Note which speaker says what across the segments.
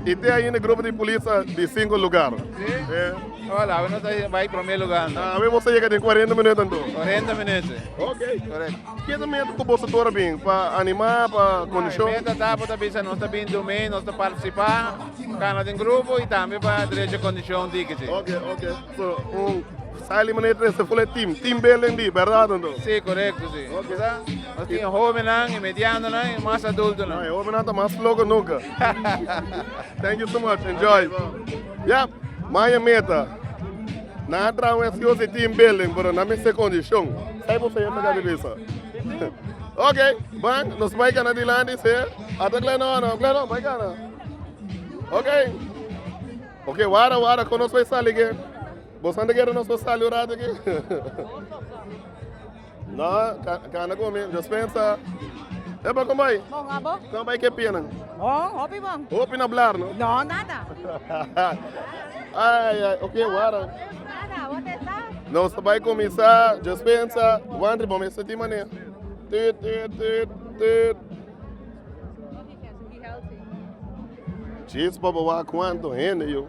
Speaker 1: Y te ainda grupo di polis a di cinco lugar. Hola, awe nos a bai prome lugar. anto. Awe bo sa yega den 40 minuto anto. 40 minuten. Ok. Correct. Ke ta meta ku boso tur a bin? Pa anima, pa E kondishon? meta ta bo ta bisa nos ta bin dun mei, nos ta participa, cana den grupo y tambe pa drecha condicion dikichi. Ok, ok. So, un Saily manera tres ta full e team, team building di, berdad o no? Sí, corecto sí. Ok. Kisa nos tin e hobennan, e medianonan, e mas adultonan. Ah, e hobennan ta mas loco nunca. Thank you so much, enjoy. Okay, bro. Ya, Maya Meta. Nan a traha un excuse di team building, pero nan mester condicion. Sai bo señor ta caba bisa. Ok, ban, nos bay cana dilanti, señor. Ata Gleno o no? Gleno, bay cana. Ok. Ok, wara, wara, con nos bay sali again. Bo san deken nos por sali un rato aki? no, cana con mi, yo pensa. Epa, ¿cómo hay? Bon, abo. ¿Cómo hay que pinan? Bon, hopi bon. Hopi no hablar, ¿no? No, nada. ay, ay, ok, guarda. Nada, what is that? No, se vai começar, yo pensa, Wandri, bom, esse time mané. Tut, tut, tut, tut. Chispa, boa, quanto rende, eu.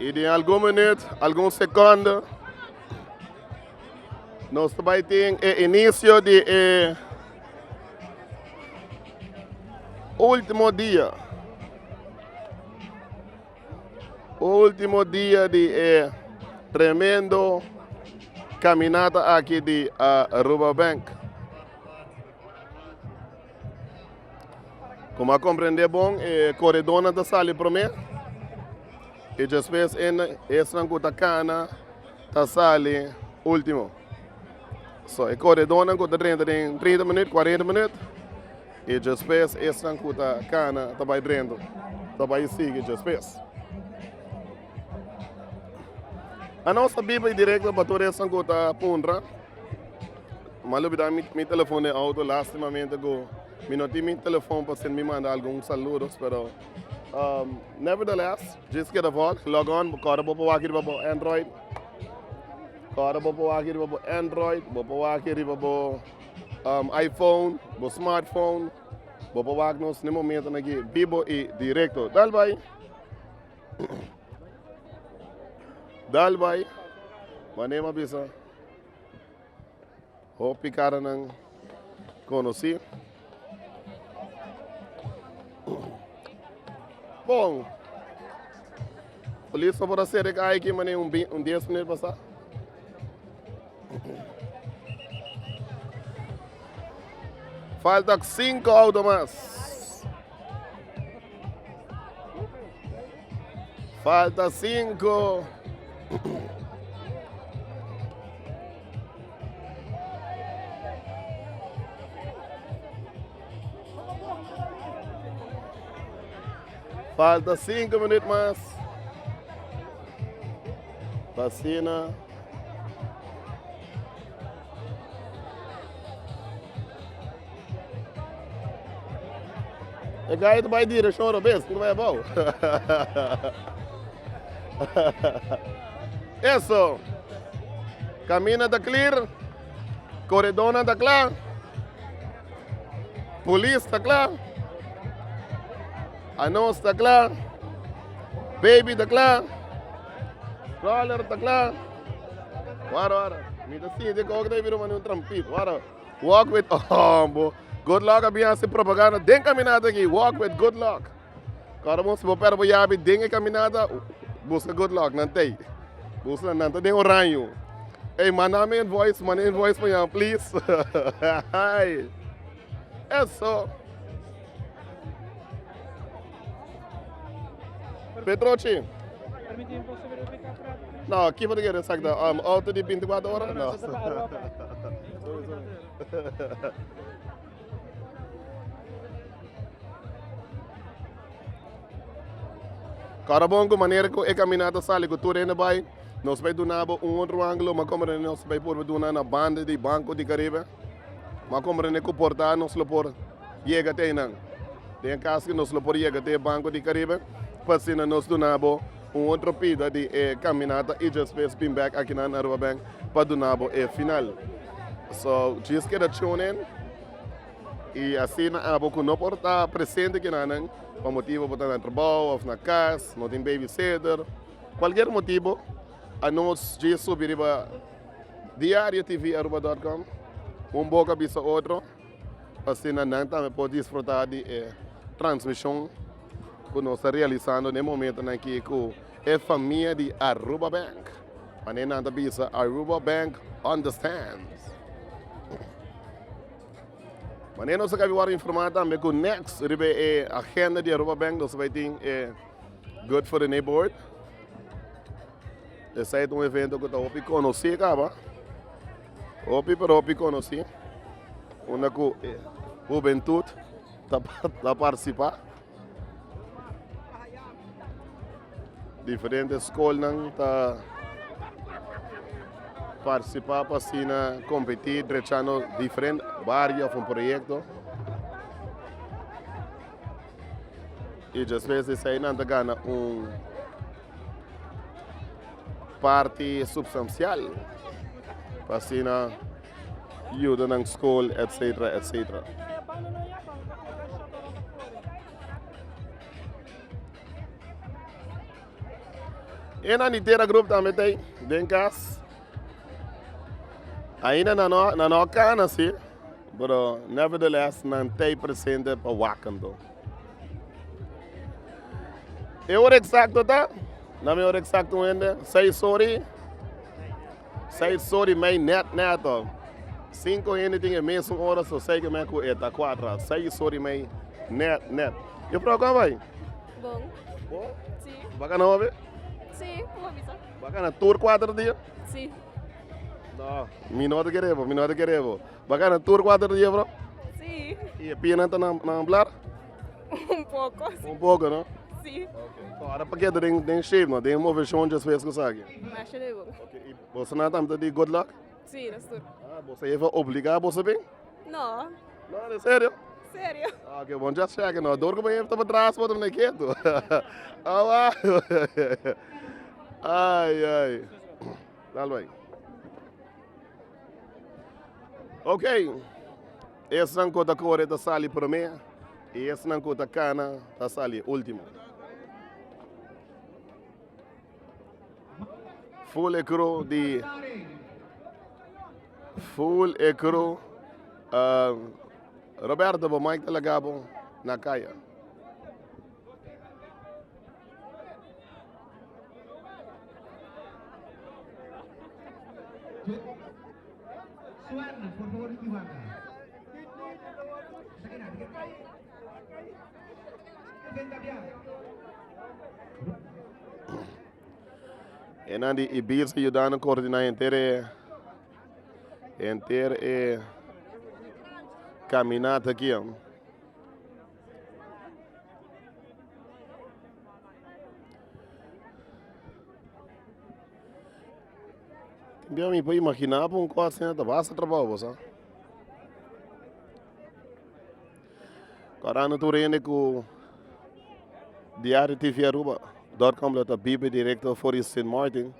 Speaker 1: Y den algun minuut, algun secondo, nos ta bai tin e inicio di e último dia. Último dia di e tremendo caminata aki di Aruba Bank. Como a comprende bon e corredornan ta sali prome y despues esnan cu ta cana ta sali ultimo. So e corredornan cu ta drenta den 30 minuut, 40 minuut y despues esnan cu ta cana ta bay drenta, ta bay sigui despues. Anos ta biba y directo pa tur esnan cu ta puntra. M'a lubidá mi telefon den outo, lastimamente ku mi no tin mi telefon pa sende mi manda algun saludos, pero nevertheless djes keda vòt log on, bo kòrda bo pa wak riba bo Android, kòrda bo pa wak riba bo Android, bo pa wak riba bo iPhone, bo smartphone, bo pa wak nos den momentonan aki bibo i direkto. Dal bai, dal bai, mane'e m'a bisa. Hopi karanan konosí. Bon. Polis no por a sere kaya aquí mané un, bi- un 10 minuut pasá. Falta 5 auto mas. Falta sinku. Falta sinku minut mas. Pasina. E gaya ta bai direction robes, puro bai abao. Eso. Camina ta clear. Corredona ta klaar. Police ta klaar. Anos ta klaar. Baby ta klaar. Roller ta kla. Wara wara. Mi ta sinti ko ta bira mani un trampit. Wara. Walk with Ombo. Good luck a bian si propaganda den caminata ki. Walk with good luck. Kora mo si bo per bo yabi den e caminata busca good luck nan tei. Busca nan ta den oranjo. Hey manda mi in voice manda in voice pa yan please. Eso. Petrochi. No, ki por quiere exacta. Um, auto di 24 horas? No. Carabon, con manera que he caminado sale con tu rende bay, nos bay dunabo un otro ángulo, mas como nos bay por duna na banda di Banco di Caribe. Bo a komprende ku porta nos lo por yega te einan? Den e kas ku nos lo por yega te e Banko di Karibe, pa asina nos duna bo un otro pida di e kaminata y despues bin bèk akinan na Aruba Bank pa duna bo e final. So, djis keda tune in y asina abo ku no por ta presente kinanan pa motibu bo ta na trabou òf na kas, no tin babysitter, kualkier motibu, a nos djis subi riba. Diario TV Aruba.com, Un boka bisa otro, asina nan tambe por disfruta di e transmishon ku nos ta realisando den momentonan ki ku e famia di Aruba Bank. Mane nan ta bisa Aruba Bank understands. Mane nos a kabi wòrdu informá tambe ku next riba e agenda di Aruba Bank nos a bai tin e Good for the Neighborhood. Esai ta un evento ku ta hopi konosí kaba, hopi pero hopi konosí unda ku e hubentut ta partisipá. Diferente skolnan ta partisipá pa asina kompetí drechando diferente bario òf un proyekto. I despues di esei nan ta gana un. parti supstansial pa asina yuda nan skol etcetera etcetera. E nan di tera grup tambe ta den kas. Ainda na no, na no kana si, pero nevertheless nan ta presente pa wakanto. E ora eksakto ta? Nan e ora eksakto wende? Seis ora i seis ora i mei nèt nèt to. Sinku hende tin e mesun ora so sei ke men ku e ta kuadra. Seis ora i mei nèt nèt. Yufrou kon a bai? Bon. Bon? Si. Ba kana hopi? Si, ku bo bisa? Ba kana tur kuater dia? Si. No, mi no ta kere bo, mi no ta kere bo. Bo a gana tur kuater ta yebra? Sí. Y e pienan ta na na hablar? Un poco. Un poco, no? Sí. So ahora paquete den den shape, no? Den moveción just fes cosa aquí. Masha de bo. Okay. Y bo sana tam ta di good luck? Sí, dat is tur. Ah, bo sa even obliga bo sa bin? No, No, de serio? serio. Ah, okay, bon just check, no? Door ko ben ta bedraas wat om keto. Ah, wa. Ay, ay. Dal bay. Ok, esnan ku ta kore ta sali promé i esnan ku ta kana ta sali último. Ful e kru di Ful e kru Roberto bo Mike ta laga bo na kaya. Enan di Ibirsa yudando koordiná henter e henter e kaminata aki. Bia mi pa imagina apa un call center ta basa trabajo bosa ora no tur hende cu diario TV Aruba dor com lo ta biba directo for di Sint Maarten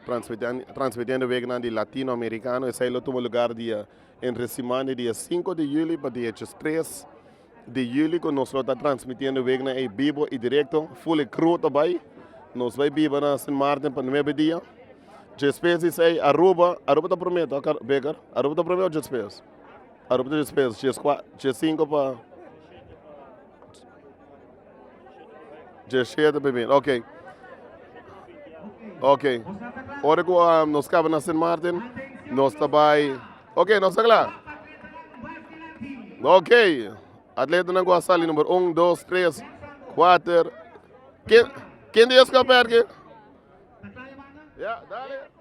Speaker 1: transmitiendo week nan di latino americano esey lo tuma lugar dia Entre siman di dia sinku di juli pa diechos tres di juli ku nos lo ta transmitiendo Week na ei bibo i direkto, ful i kru ta bai. Nos bai biba na Sint Maarten pa nuebe dia. Djespes di esei Aruba, Aruba ta prome to Beker? Aruba ta prome o djespes? Aruba ta djespes, dje sinku pa. Diecisiete bai bien, ok, ok, ora cu nos caba na Sint Maarten, nos ta bai, ok nos ta cla, ok, atletanan cu a sali number un, dos, tres, cuater, ken, ken di escoger ki? Ya, dale.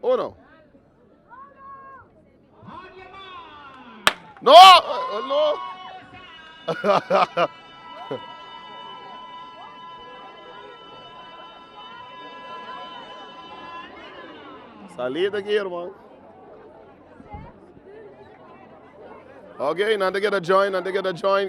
Speaker 1: Uno. No, no. Salida aquí, hermano. Okay, nan te queda join, nan te queda join.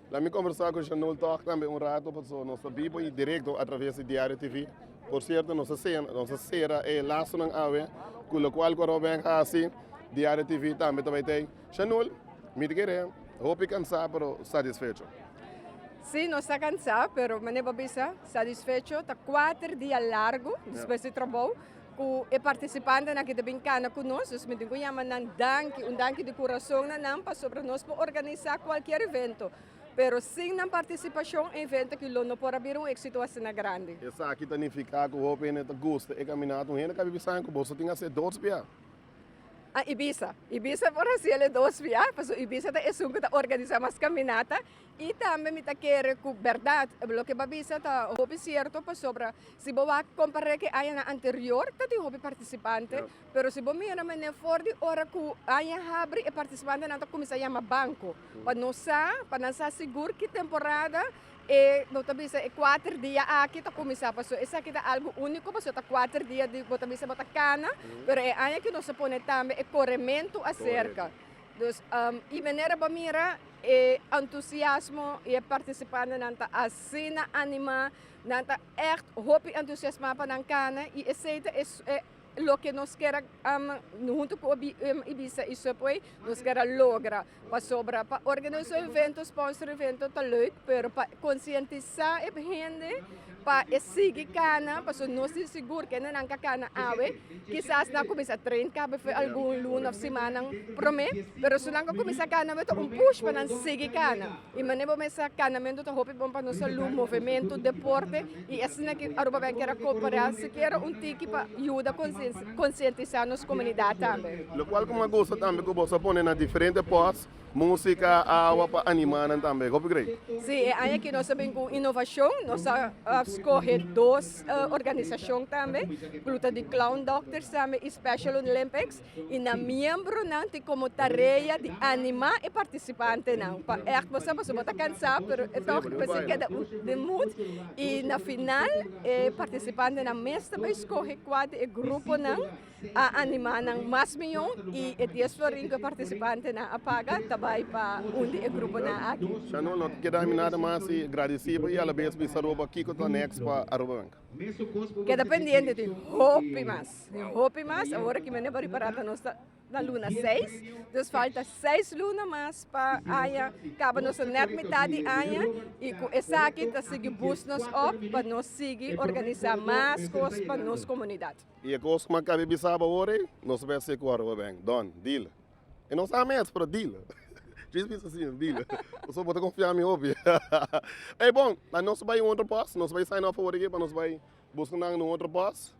Speaker 1: La mi kombersá ku Shanul Tòg tambe un ratu pasobra nos ta biba i direkto atraves di Diario TV. Por sierto, nos a sena, nos a sera e lasonan awe ku lokual ku Robben hasi, Diario TV tambe ta bai t'ei. Shanul, mi ta kere, hopi kansá pero satisfecho. Sí, nos ta kansá pero mane bo bisa, satisfecho. Ta kuater dia largu despues di trabou. Ku e partisipantenan ke ta bin kana ku nos, nos mitin ku yama nan danki, un danki di kurason na nan pasobra nos por organisá kualkier evento, pero sin nan partisipashon e evento aki lo no por a bira un éksito asina grandi. Esaki ta nifiká ku hopi hende ta gusta e kaminata. Un hende kabi bisa ku boso tin hasi e dos biaha? A Ibiza. Ibiza por hasi el e dos biaha, pasobra Ibiza ta esun ku ta organisá mas kaminata I tambe mi ta kere ku bèrdat, loke bo a bisa ta hopi sierto, pasobra si bo wak kompará ku añanan anterior ta tin hopi partisipante, pero si bo mira manera for di ora ku aña habri e partisipantenan ta kuminsá yama banko pa no sa, pa nan sa sigur ki temporada e bo ta bisa e kuater dia aki ta kuminsá. Paso esaki ta algu úniko paso ta kuater dia di bo ta bisa bo ta kana, pero e aña ku nos a pone tambe e korementu aserka, Dus e manera bo mira e entusiasmo i e partisipantenan ta asina animá, nan ta ègt hopi entusiasmá pa nan kana i esei ta e e loke nos kera huntu ku Ibiza i Subway nos kera logra. Pasobra pa organisá eventu, sponsora eventu ta lèuk, pero pa konsientisá e hende Pa e sigui cana pasobra nos tin sigur que nan ca cana awe kisas nan a cuminsa train cabo fue algun luna of simanan prome pero su nan a cuminsa cana awe ta un push pa nan sigui cana y mane bo mesa canamento ta hopi bon pa nos salud movemento deporte y asina ki Aruba Bank kier a copera sikiera un tiki pa yuda concientisa nos comunidad tambe. Lo cual como a gusta tambe cu boso pone na diferente post. Músika, awa pa animá nan tambe. Hopi grei. Sí, e aña aki nos a bin ku un inovashon. Nos a skohe dos organisashon tambe, ku lo ta di Clown Doctors tambe i Special Olympics, i nan miembronan tin komo tarea di animá e partisipantenan pa ègt pasá, pasobra bo ta kansá pero e tòg a bese keda un den mut. I na final e partisipantenan mes ta bai skohe kua di e gruponan. a animá nan mas mihó i e dies florin ku e partisipantenan a paga ta bai pa un di e gruponan aki. Nan no ta keda mi nada mas i gradisí bo i alabes bisa Aruba kiko ta nèks pa Aruba Wenka. Keda pendiente tin hopi mas, tin hopi mas. Awor aki mi a neba ripará ta nos ta na luna seis, dus falta seis luna mas pa aña kaba. Nos ta nèt mitat di aña i ku esaki ta sigui bus nos òf pa nos sigui organisá mas kos pa nos komunidat. I e kos ku Makabe bisa bo awor ei, nos a mester ku ora bo beng, Don, dil. I no sa mes, pero dil. Dris bisa si, dil, pasobra bo ta konfia mi hopi. Ei, bon, a nos bai un otro pos, nos bai sign off awor aki pa nos bai buska nan na un otro pos,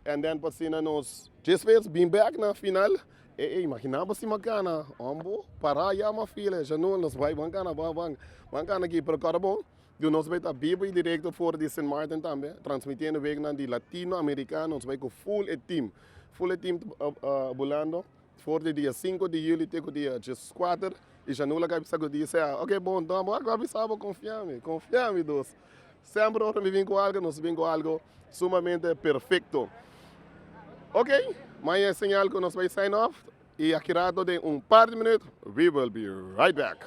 Speaker 1: and then pa asina nos tres bes bin bek na final. E ei, imaginaba si Makana, òn bo para yama fila, e Shanul nos bai, ban kana, ban, ban, ban kana aki, pero kòrda bo, Di nos bai ta bibo y directo for di Sint Maarten tambe, transmitiendo weeknan di Latino Americano, nos bai cu full e team. Full e team ta bulando for di dia sinku di juli te cu dia djeskuater y Janu lo cabeza cu di sea, ok bon enton abo a cu a bisa bo confia mi, confia mi dos. Semper ora mi bin cu algo nos bin cu algo sumamente perfecto. Ok maña e señal cu nos bai sign off y aki rato den un par di minuut we will be right back.